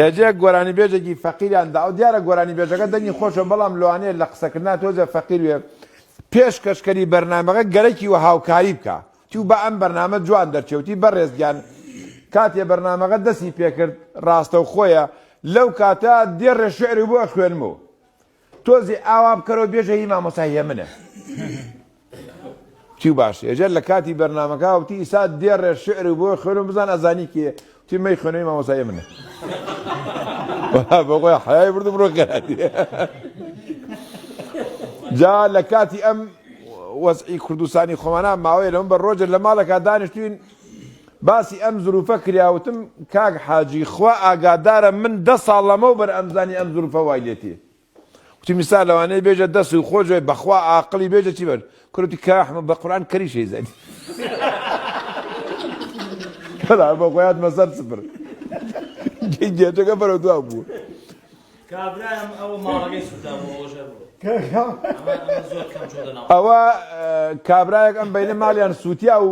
یەجێک گۆرانی بێژێکی فەقیریان داوە دیارە گۆرانی بێژەکە دەنگی خۆشە بەڵام لەوانەیە لە قسەکردنا تۆزێ فەقیر وێ پێش کەشکەری بەرنامەکە گەرەکی وە هاوکاری بکا تیو با ئەم بەرنامە جوان دەرچێوتی بەڕێز گیان کاتێ بەرنامەکە دەسی پێکرد ڕاستەوخۆیە لەو کاتە دێڕێ شعری بۆ ئەخوێنمەوە تۆزێ ئاوا بکەرەوە بێژە هی مامۆستا هێمنە. وتی باشە ئێجا لە کاتی بەرنامەکە وتی ئیسا دێڕێ شعر بۆ خوێنم بزان ئەزانی کێ وتی مەی خوێنەوەی مامۆستا هێمنە. بەخۆی حەیای بردم ڕۆ گەراتی جا لە کاتی ئەم وەزعی کوردستانی خۆمانە ماوەیە لەم بە ڕۆژە لە ماڵەکە دانیشتوین باسی ئەم زروفە کرا وتم کاک حاجی خوا ئاگادارە من دە ساڵ لەمەو بەر ئەمزانی ئەم زروفە وای لێتی وتی میسا لەوانەیە بێژە دە سوی خۆ جوێ بەخوا ئاقلی بێژە چی بەر کروتی کاحمە بە قوران کەری شەی زەدی بەڵا بە خۆیات مەسەر سپر گێجەکە بەرەو دوا بوو کابرایم ئەوە ماڵەکەی سودا بۆ ئەوژە بوو ئەوە کابراەک ئەم بینە ماڵیان سووتیا و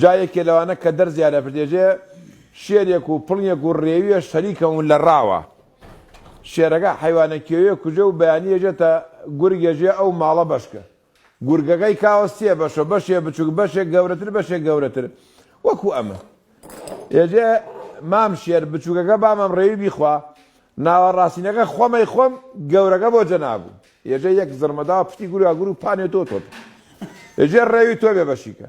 جا یەکێ لەوانە کە دەرزیان لەپردێژێ شێرێک و پڵنگێک و ڕێویەش سەریکەون لە ڕاوە شێرەکە حەیوانە کێویە کوژێ و بەیانی ئێژێتە گورگ ئێژێ ئەو ماڵە بەشک گورگەکەی کاوە سێ بەشە بەشێ بچووک بەشێک گەورەتر بەشێک گەورەتر وەکو ئەمە ئێژێ مام شێر بچووکەکە بامەم ڕێوی بیخوا ناوە ڕاستینەکە خۆمەی خۆم گەورەکە بۆ جەنابوو ئێژێ یەک زڕمەدا پشتی گورگا گورو پانێ تۆ تۆت ئێژێ ڕێوی تۆ بێ بەشیکە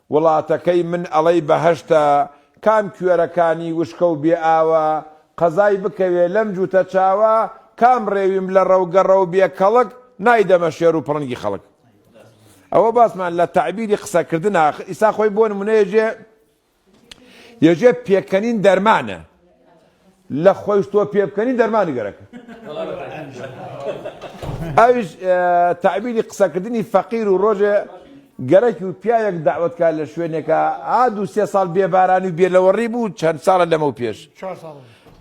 وڵاتەکەی من ئەڵێی بەهەشتە کام کوێرەکانی وشکە و بێ ئاوە قەزای بکەوێ لەم جووتە چاوە کام ڕێویم لە ڕەو گەڕە و بێ کەڵک نایدەمە شێر و پڵنگی خەڵک ئەوە باسمان لە تەعبیری قسە کردنە ئاخر ئیستا خۆی بۆ نموونە یەجێ یەجێ پێکەنین دەرمانە لە خۆیش تۆ پێ بکەنی دەرمانی گەرەکە. ئەویش تەعبیری قسەکردنی فەقیر و ڕۆژێ گەرەکی و پیاوێک دەعوەت کا لە شوێنێکا ئا دوو سێ ساڵ بێ بارانی و بێ لەوەڕی بوو چەند ساڵە لەمەو پێش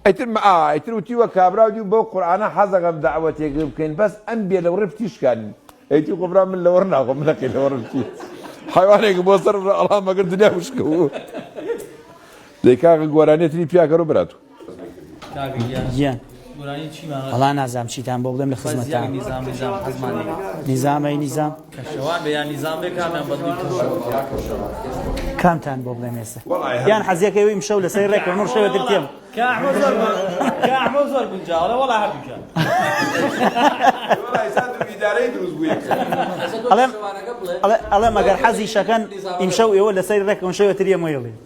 ئیتر ئا ئیتر وتی وە کابراو دیو بەو قورعانە حەزەکەم دەعوەتێک بکەین بەس ئەم بێ لەوڕی فتی شکانی ئەیتی خۆ برا من لەوەڕ ناخۆم من لەقی لەوەڕ بچی حەیوانێک بۆ سەر ڕە ئەڵا مەگەر دنیا وشکە بوو. دەی کاکە گۆرانیە تری پیا کەرو برا تو. کاک گیان وەڵا نازام چیتان بۆ بڵێم لە خزمەتتام نیزامەی نیزام کامتان بۆ بڵێم ئێستا یان حەزیەکەی ویم شەو لەسەر ڕێک نور شەوە ترکێم ئەڵێ مەگەر حەزی شەکەن ئیمشەو ئێوە لەسەر ڕێکم شەوە تریە مۆیڵی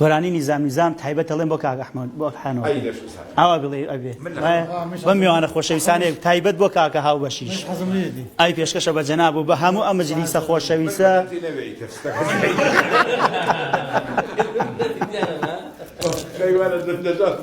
گۆرانی نیزام نیزام تایبەت دەڵێم بۆ کاک ئەحمەد بۆ ئەکحانۆ ئەی بێ شوزار ئاوا بڵێ ئەبێ من لە وایە خۆم. بەم میوانە خۆشەویستانەیە تایبەت بۆ کاکە هاوبەشیش من حەزم لێ دی ئای پێشکەشە بە جەناب و بە هەموو ئەم مجلیسە خۆشەویستە من بەدەمتی نەوێ ئیتر شتەکە شەیوانە دەم دەدات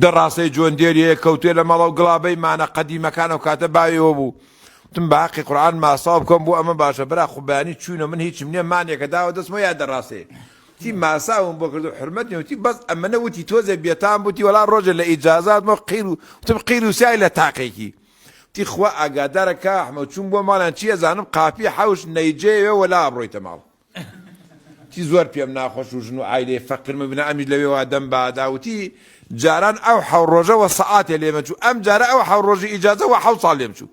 دە ڕاسەی جۆن دێری هەیە کەوتویە لە مەڵەو گڵابەی مانە قەدیمەکان ئەوکاتە باویەوە بوو وتم بە هەقی قورعان ماستاو بکەم بۆ ئەمە باشە برا خو بەیانی چوینەوە من هیچم نیە مانێکە داوە دەستمەوە یا دە ڕاسەیە وتی ماساوم بۆ کردو حرمەت نیە وتی بەس ئەمەنە وتی تۆزێ بێتام بوتی وەڵا ڕۆژێ لە ئیجازات مۆ قیر و وتم قیر و سای لە تاقێکی وتی خوا ئاگادارە کا ئەحمەد چوم بۆ ماڵیان چی ئەزانم قاپی حەوش نەیجێوێ وەلا ئەبڕۆیتە ماڵ وتی، زۆر پێم ناخۆش و ژن و عایلەی فەقیرمە، بنا ئەمیش لەوێوا دەم بادا. وتی، جاران ئەو حەو ڕۆژە وە سەعاتێ لێمەچوو، ئەم جارە ئەو حەو ڕۆژی ئیجازە وە حەو ساڵ لێم چوو.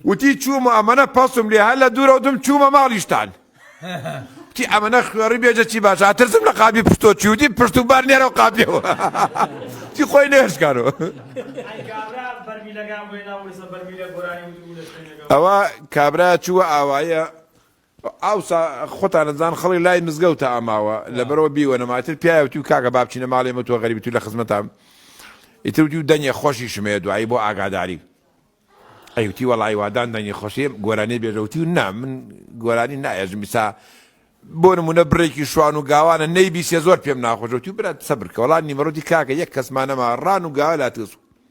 وتی، چووم و ئەمەنە پەسوم لێ، هەر لە دوورەوە دم چوومە ماڵیشتان. وتی، ئەمەنە خوێڕی بێژە چی باشە، ئەترسم لە قاپی پشتۆ چووی. وتی، پشت و بار نێرە و قاپێ وە. وتی، خۆی نەهێشکانۆ. ئەوە کابرا چووە ئاوایە. ئاوسا خۆتان ئەزان خەڵک لای مزگەوتە ئەماوە لەبەرەوە بیوەنەما ئیتر پیایا وتی و کاکە با بچینە ماڵێ ئێمە تۆ غەریبی تو لە خزمەتام ئیتر وتی و دەنگێ خۆشیشم هەیە دوعای بۆ ئاگاداری ئەی وتی وەڵا ئیوادان دەنگی خۆشی گۆرانی بێژە وتی و نا من گۆرانی نایەژم ئیسا بۆ نمونە بڕێکی شوان و گاوانە نەیبیسێ زۆر پێم ناخۆشە وتی و برا سەبر کە وەڵا نیمەڕۆتی کاکە یەک کەسمان نەما ڕان و گاوە لاتگەسو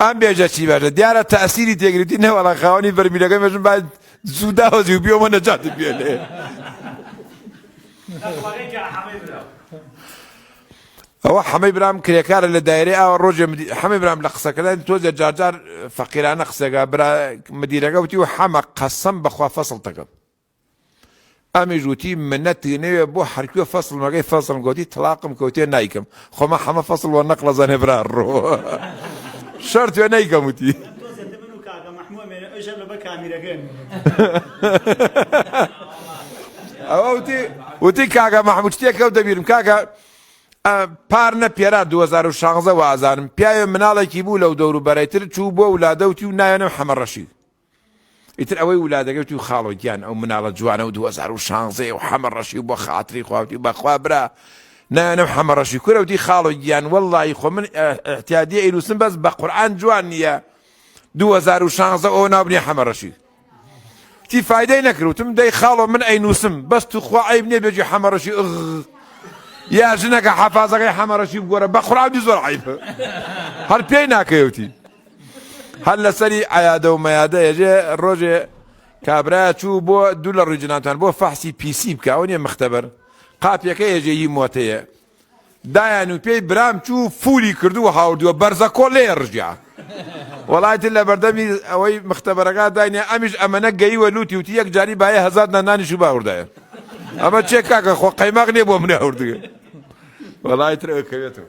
ئەم بێژە چی بەژە دیارە تەسیری تێگرتی نەوەڵە خاوەنی بەرمیلەکە مێژم با زوو داوەزی و بیۆمە نەجاتت بێنێ ئەوە حەمەی برام کرێکارە لە دایرەی ئاوە ڕۆژێ حەمەی برام لە قسەکردن تۆزێ جارجار فەقیرانە قسەکە برا مدیرەکە وتی و حەمە قەسم بەخوا فەسڵ دەکەم ئەمیش وتی منت نەوێ بۆ حەرکوێ فەسڵ مەگەی فەسڵم گۆتی تڵاقم کەوتێ نایکەم خۆما حەمە فەسڵ وە نەقڵە زەنێ برا ڕۆ شەر توێ نەیکەم وتی ئەوە وتی وتی کاگە مەحموود شتێکەوت دەبیرم کاکە پار نە پێرا 2016 وازانم پیاوێ مناڵێکی بوو لەو دەور و بەرەتر چوو بۆ ولادەوتی و ناوێنم حەمە ڕەشید ئیتر ئەوەی ولادەکەی وتی و خاڵۆ گیان ئەو مناڵە جوانە و دوو هەزار و شانزدە یە و حەمە ڕەشی و بۆ خاتری خوا وتی بە خوا برا نایەنە و حەمە ڕەشی کورە وتی خاڵۆ گیان وەڵڵاهی خۆ من ئیعتیادی ئەینووسم بەس بە قورعان جوان نییە دوو هەزار و شانزدە ئەوە ناو بنێ حەمە ڕەشی تی فایدەی نەکرد وتم دەی خاڵۆ من ئەینووسم بەس تو خوا عەیب نییە بێجی حەمە ڕەشی ئغ یا ژنەکە حەفازەکەی حەمە ڕەشی بگۆرە بە قورعان وتی زۆر عەیبە هەر پێی ناکەی وتی هەر لەسەری عەیادە و مەیادە یەجێ ڕۆژێ کابراە چوو بۆ دوو لە ڕووی جناتان بۆ فەحسی پیسی بکە ئەو نیە مختبەر قاپیەکە یەجێ ی مۆتەیە دایان و پێی برام چوو فولی کردو هاوردووە بەرزە کۆ لێ ڕژیا وڵاتن لە بەردەمی ئەوەی مختبەرەکە داینێ ئەمیش ئەمەە گەیوە لوتی وتی یەک جاری باە هەزار نانانیش و باوردایە ئەمە چێ کاکە خۆ قەیماق نیە بۆ منە هەوردگە وەڵی ترەوە کەوێتەوە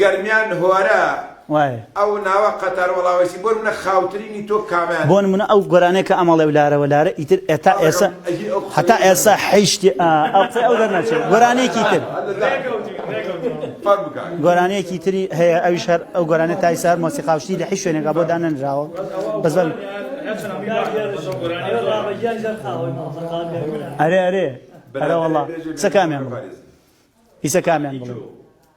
گەرمیان هۆرە ئەو ناوە قەتار وەڵاوەیسی بۆ نمونە خاوترینی تۆ کامەیان. بۆ نمونە ئەو گۆرانیە کە ئەمەڵێ و لارە وە لارە ئیتر ئێتا ئێسە هەتا ئێسە حیشتی ئا ئەو قسەی ئەو دەرنەچێ گۆرانیەکی تر گۆرانیەکی تری هەیە ئەویش هەر ئەو گۆرانە تای سار مۆسیقاوشتی لە حیش شوێنێکا بۆ دانەنراوە بەس بەم ئەرێ ئەرێ ئەرە وەڵا قسە کامیان بڵێ ئیسە کامیان بڵێ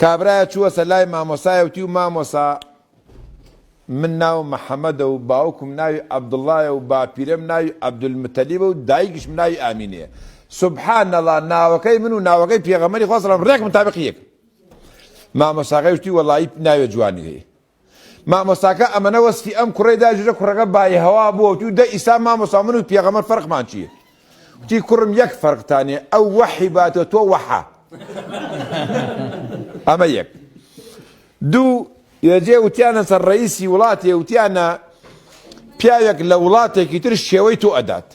کابرایە چووەسە لای مامۆسایە وتی و مامۆسا من ناوم محەمەدە و باوکم ناوی عەبدوڵایە و باپیرەم ناوی عەبدولمتەلیبە و دایکیشم ناوی ئامینەیە سبحان اللە ناوەکەی من و ناوەکەی پێغەمبەری خوا سەڵام ڕێک متابقی یەکن مامۆساکەی وتی وەڵایی ناوێ جوانی هەیە مامۆستاکە ئەمەنە وەسفی ئەم کوڕەی دا جرە کوڕەکە بایهەوا بووە وتی و دە ئیسا مامۆستا من و پێغەمبەر فەرقمان چییە وتی کوڕم یەک فەرقتانێ ئەو وەحی باتە تۆ وەحا ئەمە یەک دوو یەجێ وتیانە سەر ڕئیسی وڵاتێ وتیانە پیاوێک لە وڵاتێکی تر شێوەی تۆ ئەدات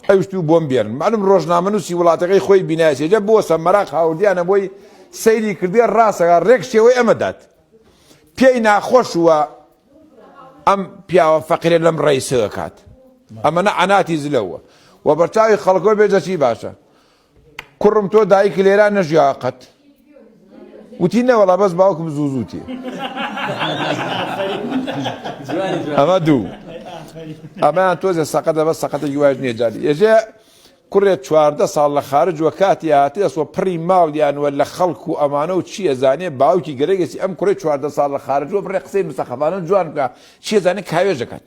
ئەوشتوو بۆم بێرن مەعلوم ڕۆژنامەنووسی وڵاتەکەی خۆی بینایەتی جا بۆسە مەراق هاوردیانە بۆی سەیری کردێ ڕاستەکە ڕێک شێوەی ئەمە دات پێی ناخۆش وە ئەم پیاوە فەقیرە لەم ڕێیسەوە کات ئەمەە عەناتی زلەوە و بەرچاوی خەڵکۆ بێ دەچی باشە کوڕم تۆ دایک لێرا نەژیا قەت وتی نەوەڵا بەس باوکم زوو زوو تێ ئەمە دوو ئەمەیان تۆزە سەقەتە بە سەقەتە یواش نیە جاری ئێژێ کوڕێت چواردە ساڵ لە خارج وە کاتی هاتی ئەسوە پڕی ماڵیانوە لە خەڵک و ئەمانە و چیە زانێ باوکی گەرەگەسی ئەم کوڕی چواردە ساڵ لە خارجوە بڕێ قسەی مستەخەفانە جوان بکە چیە زانێ کاوێژەکەت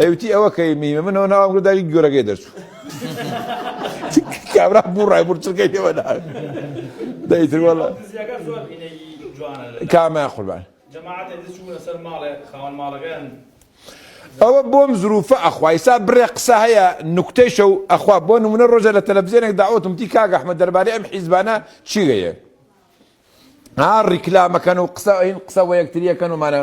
ئەوتی ئەوە کەی میمە منەوە ناوام گرت داگی گۆرەگەی دەرچوو کابرا بوو ڕای بور چرکەی لێوە دا دەیتر وەڵا کامە قوربان ئەوە بۆم زروفە ئەخوایسا بڕێ قسە هەیە نوکتەی شەو ئەخوا بۆ نمونە ڕۆژە لە تەلەڤزیێنێک داوتم تی کاگە ئەحمە دەربارەی ئەم حیزبانە چی گەیە ها ڕیکلامەکەن و قسە ئەین قسە بۆ یەکتریەکەن ومانە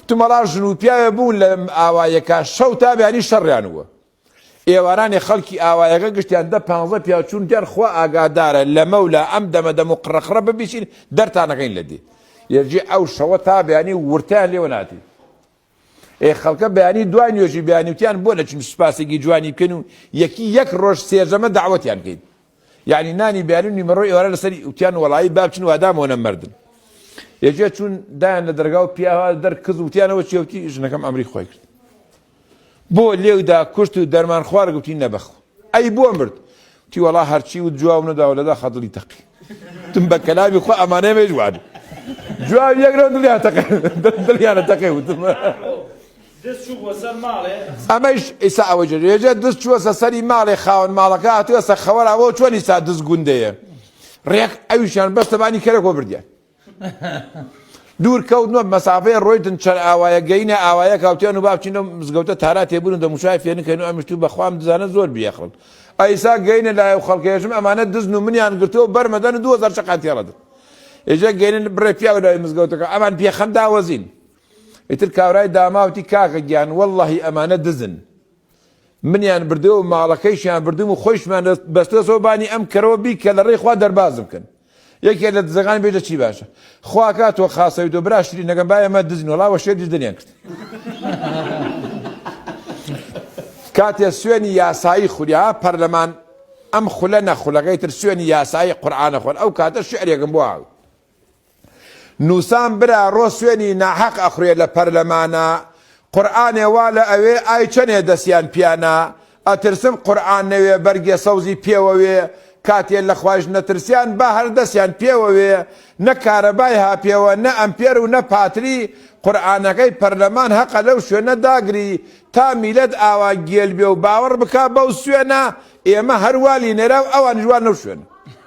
تمەڵا ژن و پیاوێ بوون لە ئاوایەکە شەو تا بیانی شەڕیان وە ئێوارانی خەڵکی ئاوایەکە گشتیان دە پانزە پیاچوون دیان خوا ئاگادارە لە مەولا ئەم دەمە دەم و قڕەقڕە ببیین دەرتانەکەین لە دی یەجێ ئەو شەوە تا بیانی ورتیان لێوە ناتی ئێ خەڵکە بەیانی دوای نوێژی بەیانی وتیان بۆ نەچین سوپاسێکی جوانی بکەین و یەکی یەک ڕۆژ سێرجەمە دەعوەتیان کەین یەعنی نانی بەیانی و نیمەڕۆی ئێوارە لەسەری وتیان وەڵایی با بچن وادامەوە نەمردن یەکێ چوون دایان لە دەرگا و پیاوا دەر کز وتیانەوە چێوتی ژنەکەم ئەمری خۆی کرد بۆ لێو دا کوشت و دەرمان خوارد گوتی نەبەخ ئەی بۆ مرد گوتی وەڵا هەرچی وت جواب نەداو لە داخا دڵی تەقی وتم بە کەلامی خوا ئەمانە ئێمەیش وان جواب یەک نەو دڵیان تەقێ دڵیانە تەقێ وتم ئەمەیش ئیسا ئەوە جێژێ دز چووەسە سەری ماڵێ خاوەن ماڵەکە هاتووەسە خەوەراوە چۆنی سا دز گوندەیە ڕێک ئەویشان بەستەبانی کەرەکۆ بردیان دوور کەوتن و مەسافەی ڕۆیتن چەن ئاوایە گەینە ئاوایە کاوتیان و با بچین لەو مزگەوتە تارا تێ بوون و دەموچاوی فێ نکەین و ئەمیش توو بە خوام دزانە زۆر بیەخڵن ئەیسا گەینە لای ئەو خەڵکەیەشم ئەمانە دزن و منیان گرتووە و بەر مەدەن و دوو هەزار شەقیان تێ ڕەدن ئێجا گەینە بڕێ پیاو لای مزگەوتەکە ئەمان پێ خەم داوەزین ئیتر کاورای داماوتی کاکە گیان وەڵڵەهی ئەمانە دزن منیان بردووە و ماڵەکەیشیان بردووم و خۆیشمان بەستۆتەوە بانی ئەم کەرەوە بی کە لە ڕێی خوا دەربازم کەن. یەکێ لە دزەکان بێژە چی باشە. خوا کا تۆ خاسەویت و برا شرینەکەم با ئێمە دزین وەڵا وە شێت دەریان کرد. کاتێ سوێنی یاسایی خوری ها پەرلەمان ئەم خولە نە خولەکەی تر سوێنی یاسایی قورعانە خۆن ئەو کاتە شعرێکم بۆ هاوی. نوسام برا ڕۆ سوێنی ناحەق ئەخورێ لە پەرلەمانا قورئانێ وا لە ئەوێ ئای چەنێ دەسیان پیانا ئەترسن قورئان نەوێ بەرگێ سەوزی پێوەوێ کاتێ لە خوایش نەترسیان با هەر دەسیان پێوەوێ نە کارەبای هاپێوە نە ئەمپێر و نە پاتری قورئانەکەی پەرلەمان هەقە لەو شوێنە داگری تا میلەت ئاوا گێل بێ و باوەڕ بکا بەو سوێنە ئێمە هەر وا لینێرا و ئەوانیش وا نەو شوێنە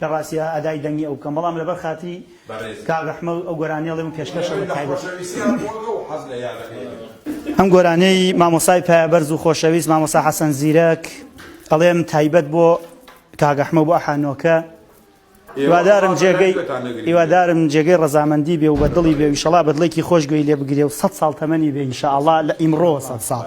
لە ڕاستیا ئەدای دەنگی ئەو بکەم بەڵام لەبەر خاتری کاک ئەحمەد ئەو گۆرانیە ئەڵێم پێشکەشە بە تایبەت ئەم گۆرانیەی مامۆسای پایەبەرز و خۆشەویست مامۆسا حەسەن زیرەک ئەڵێم تایبەت بۆ کاک ئەحمە بۆ ئەحانۆکە هیوادارم جێگەی هیوادارم جێگەی ڕزامەندی بێ و بە دڵی بێ ویشەڵا بەدڵێکی خۆش گوێی لێ بگرێ و سە ساڵ تەمەنی بێ ئینشاءڵا لە ئیمڕۆ سە ساڵ.